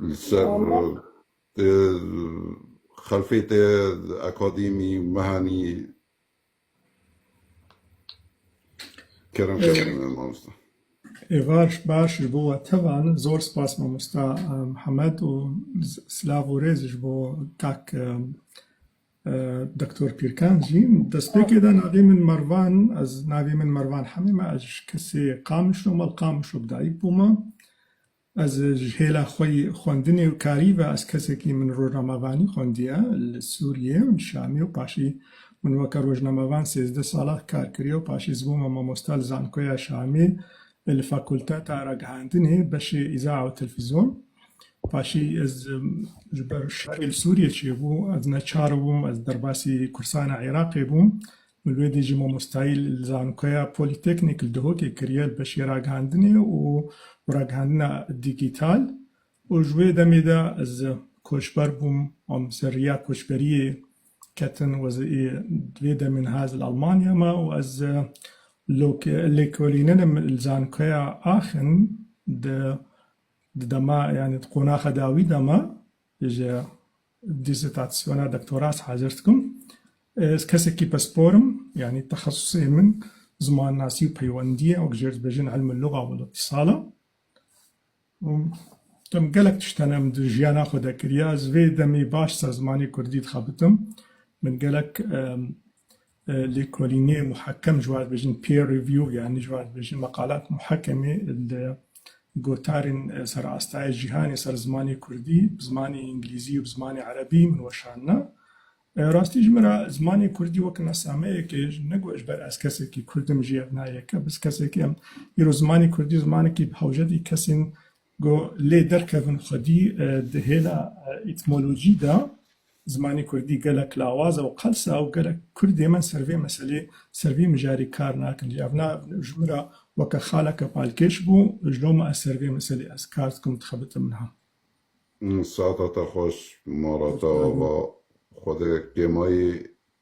Li ser xelfê te akademî mehanî kerem kerem mamosta. Baş baş ji bo we tevan zor spas mamosta Mihemed û silav û rêz ji bo kak Doktor Pîrkan jî destpêkê da navê min Mervan ez navê min Mervan Hemî me ez ji Kesê Qamişlo me li Qamişlo bi dayik bûme ez ji hêla xwe yî xwendinê û karî ve ez kesekî min rojnamevanî xwendiye li Sûriyê û li Şamê û paşî min weke rojnamevan sêzdeh sala kar kiriye û paşî ez bûme mamosta li Zankoya Şamê li Fakulteta Ragihandinê beşê Îzaa û Telfîzyon. Paşê ez ji ber şerê li Sûriyê çêbû, ez neçar bûm, ez derbasî kursana Iraqê bûm û li wê dî jî mamostayî li Zankoya Polîteknîk li Dihokê kiriye li beşê ragihandinê û ragihandina dîgîtal û ji wê demê de ez koçber bûm û min ser riya koçberiyê ketin û ez ê di vê demê niha ez li Elmanya me û ez lêkolîninim li Zankoya Aachen di Di dema yanî di qonaxe de wî de me ji dîsertasyona doktora ez hazir dikim. Ez kesekî pispor im, yanî texesusê min Zimanasî û Peywendî ye, wek jê dibêjin Ilm el-Luga wal Îtîsal e. Dem gelek tişt hene min di jiyana xwe de kiriye, ez vê demê baş ser zimanê kurdî dixebitim. Min gelek Lêkolînê muhekem ji wan dibêjin peer review yanî ji wan dibêjin meqalat muhekemê li gotarên serastayê cîhanê ser zimanê kurdî bi zimanê îngilîzî û bi zimanê erebî min weşanine. Rastî ji min re zimanê kurdî wek nasameyekê ji ne got ji ber ez kesekî kurdim jî ev nayê ke biz kesekî em îro zimanê kurdî zimanekî bi hewcedî kesên Ku lê derkevin xwedî di hêla îtmolojî de zimanê kurdî gelek lawaz e û qels e û gelek kurd ê me ser vê meselê, ser vê mijarê kar nakin. Lê evna ji min re weke xaleke palkêş bû. Ji loma ez ser vê meselê ez kar dikim, dixebitim niha. Saeta te xweş Marata Ava. Xwedê kêmayî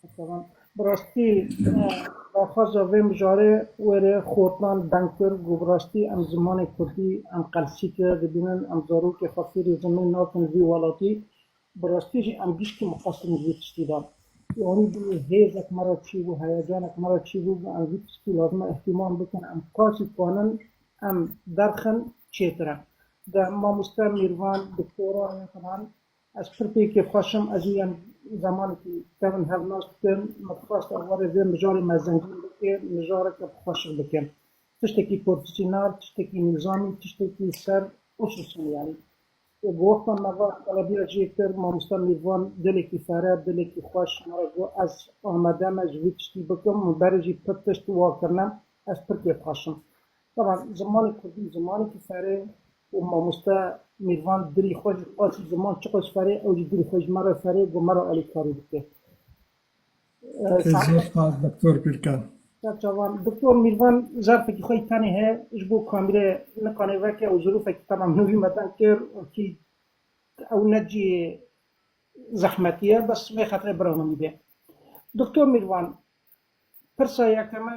Berdewam. Bi rastî daxwaza vê mijarê were xortnan deng kir ku bi rastî em zimanê kurdî em qelsîtir dibînin, em zarokê xwe fêrî zimên nakin vî welatî, bi rastî jî em giştî mixwestin ji vî tiştî de. Wanî bûye hêzek me re çîbû, heyecanek me re çîbû ku em vî tiştî lazime îhtimal bikin, em qasî twanin em derxin çêtir e. De mamoste Mîrvan, doktoran ya xidan Ez pirtêkê xweş im, ez niyem zemanekî tevin hevnas bikim, min dixwest ew were vê mijarê me zengîn bike, mijareke bi xweşik bike. Tiştekî porfîsyonal, tiştekî nîzamî, tiştekî ser û sisûn yanî. Bi wexta me va qelebiya jê kir, mamosta Mîrvan dilekî fereh, dilekî xweş me re got ez amade me ji vî tiştî bikim, min berê jî pir tişt wa kirine, ez pirtê xweş im. Taban zimanê kurdî zimanekî ferê û mamoste Mîrvan dilî xwe ji qasî ziman çi qas ferê ew jî dilî xwe ji me re ferê got me re alîkarî bike. Te zor spas Doktor Gurkan. Berçavan, Doktor Mîrvan zerfekî xwe yî tenê heye ji bo kamîre niqanê veke û zirûfekî taban min wî me deng kir û kî ew ne cihê zehmetî ye bes vê xetre bira min dî bê. Doktor Mîrvan pirsa yekeme.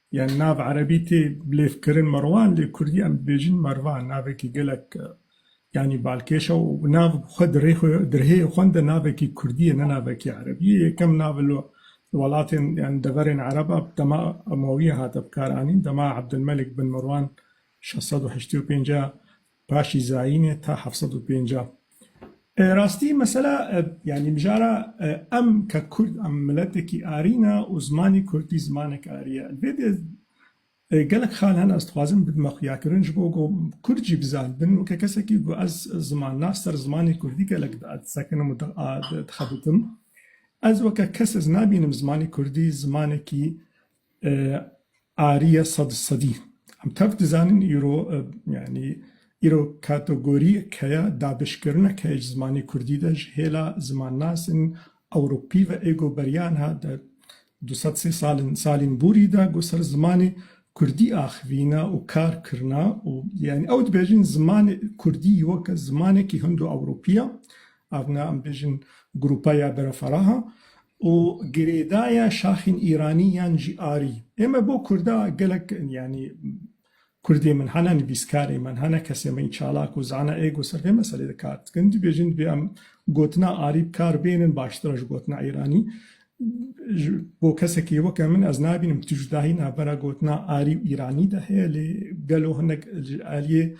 Yan nav erebî tê bilêvkirin Merwan lê kurdî em dibêjin Mervan navekî gelek yanî balkêş e û nav xwe di rê xwe di rihêyê xwe de navekî kurdî ye ne navekî erebî ye. Yekem nav li welatên yanî deverên ereb a bi dema Emewîyan hate bikaranîn. Dema Ebdulmelik bin Merwan şeş sed û heştê û pênc a Paşî zayînê ta heft sed û pêncah. Rastî mesela yanî mijara em ke kurd em miletekî arî ne û zimanî kurdî zimanek arî ye. Li vê dê gelek xal hene ez dixwazim bidime xuyakirin ji bo ku kurd jî bizanibin weke kesekî ku ez zimannas ser zimanê kurdî gelek disekinim û dixebitim. Ez weke kes ez nabînim zimanê kurdî zimanekî Ariye sed û sedî. Em tev dizanin îro yanî îro kategoriyek heye dabişkirinek heye ji zimanê kurdî de ji hêla zimannasên ewropî ve ê ku beriya niha di du sed sê sal in salên borî de ku ser zimanê kurdî axivîne û kar kirine û yanî ew dibêjin zimanê kurdî weke zimanekî hindo-ewropî ye. Ev ne em bêjin grupa ya bereferaha Û girêdaya şaxên îranî yan jî arî. Ême bo kurda gelek yanî kurdê min hene nivîskarê min hene kesê min çalak û zana êgo ser vê meselê de kar dikin dibêjin dibê em gotina arî bi kar bênin baştir e ji gotina îranî. Ji bo kesekî weke min ez nabînim tu cudahî navbera gotina arî û îranî de heye lê gelo hinek ji aliyê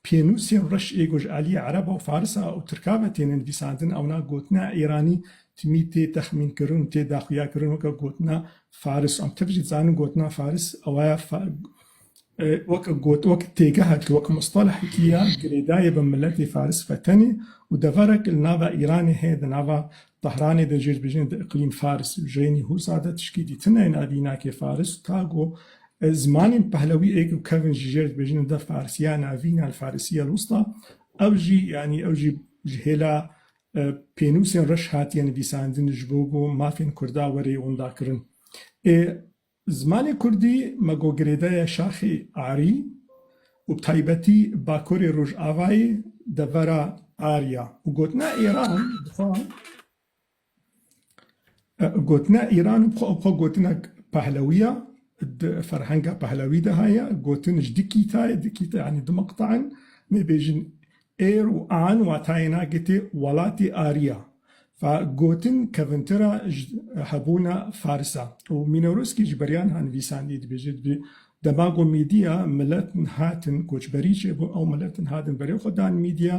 Pênûsên reş ê ku ji aliyê Ereba û Farisa û Tirka ve têne nivîsandin ewna gotina Îranî timî tê texmînkirin û tê daxuyakirin weke gotina Faris. Em tev jî dizanin gotina Faris ewa ye weke got weke têgeha ku weke mustalehekî ya girêdayî bi miletê Faris ve tenê û deverek li nava Îranê heye di nava Tehranê de jê dibêjin di îqlîm Fars jênî hûr zade tişkî dîtine ên adînakê Faris ta ku zimanên pehlewî êk û kevin ji jê dibêjin de Farsiya navîn al Farisiye al Wusta ew jî yanî ew jî ji hêla pênûsên reş hatiye nivîsandin ji bo ku mafên Kurda were yê windakirin ê Zimanê kurdî me got girêdaya şaxê Arî û bi taybetî Bakurê Rojavayê devera Arî ya û gotina Îran dixwe gotina Îran xwe gotinek Pehlewî ya, di ferhenga Pehlewî de heye gotin ji di kîtayê, di kîte yanî di meqteyan mêbêjin Êr û an watayêna gitê welatî ariya. Fa gotin kevintira ji hebûna Faris a û Mînorûskî ji beriyan ha nivîsandî dibêje dibê dema ku Mîdîya miletin hatin koçberî çêbûn ew miletin hatin berê xwe dan Mîdîya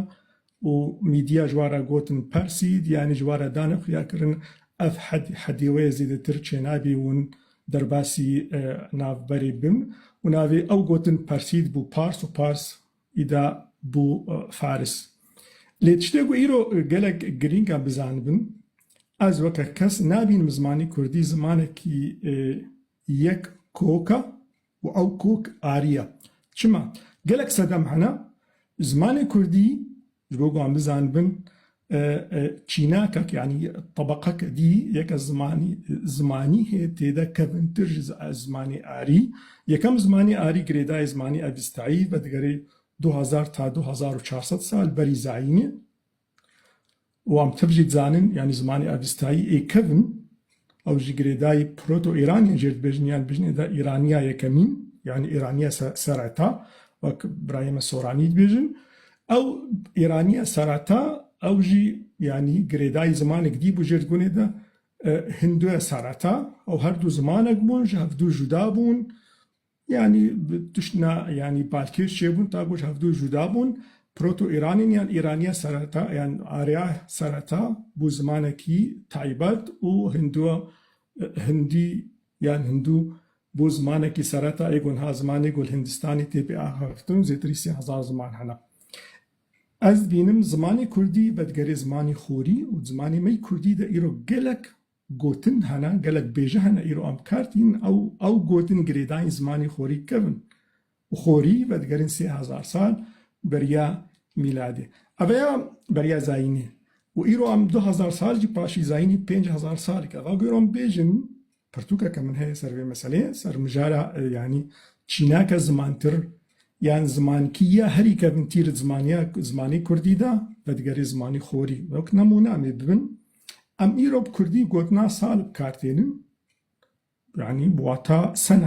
û Mîdîya ji wan re gotin Persîd yanî ji wan re danê xuya kirin ev hed hedê wê zêdetir çênabî wûn derbasî navberê bim û navê ew gotin Persîd bû Pars û Pars Îda bû Faris. Lê tiştê ku îro gelek girîng e bizanibin, ez weke kes nabînim zimanê kurdî zimanekî yek kok e û ew kok arî ye. Çima? Gelek sedem hene, zimanê kurdî Ji bo ku wan bizanibin çînakek yanî tebeqeke dî yeke zimanî zimanî hê tê de kevintir ji zimanê arî. Yekem zimanê arî girêdayê zimanê Evîstayî vedigerê du hezar ta du hezar û çar sed sal berî zayînê. Wan bi tev jî dizanin yanî zimanê Evîstayî ê kevin Ew jî girêdayî proto-îranî jê dibêjin yan dibêjin êda îranîya yekemîn yanî îranîya sereta wek birayê me Soranî dibêjin. Ew îranîya sereta ew jî yanî girêdayî zimanek dî bû jê dibûn êda hinduya sereta. Ew her du zimanek bûn ji hev du juda bûn. Yanî bi tiştna yanî balkêş çêbûn ta ku ji hevdu cuda bûn. Proto-Îranîn yan Îraniya sereta yan Arya sereta bû zimanekî taybet û Hinduwa Hindî yan Hindû bû zimanekî sereta ê ku niha zimanê ku li Hindistanê tê pê axaftin zêtirî sê hezar ziman hene. Ez dibînim zimanê kurdî vedigerê zimanê xorî û zimanê me yê kurdî de îro gelek Gotin hene, gelek bêje hene îro em kar tîn, ew ew gotin girêdayîn zimanî xorî kevin û xorî vedigerîn sê hezar sal beriya mîladê. Ev eya beriya zayînê û îro em du hezar sal jî paşî zayînî pênc hezar sal ke. Va ku îro em bêjin pirtûkeke min heye ser vê meseleyê, ser mijara yanî çînake zimantir yan zimankî ya herî kevintîr zimaniya zimanî kurdî de vedigerê zimanî xorî. Wek nemûne em ê bibin Em îro bi kurdî gotina sal bi kar tênin, yanî bi wata sena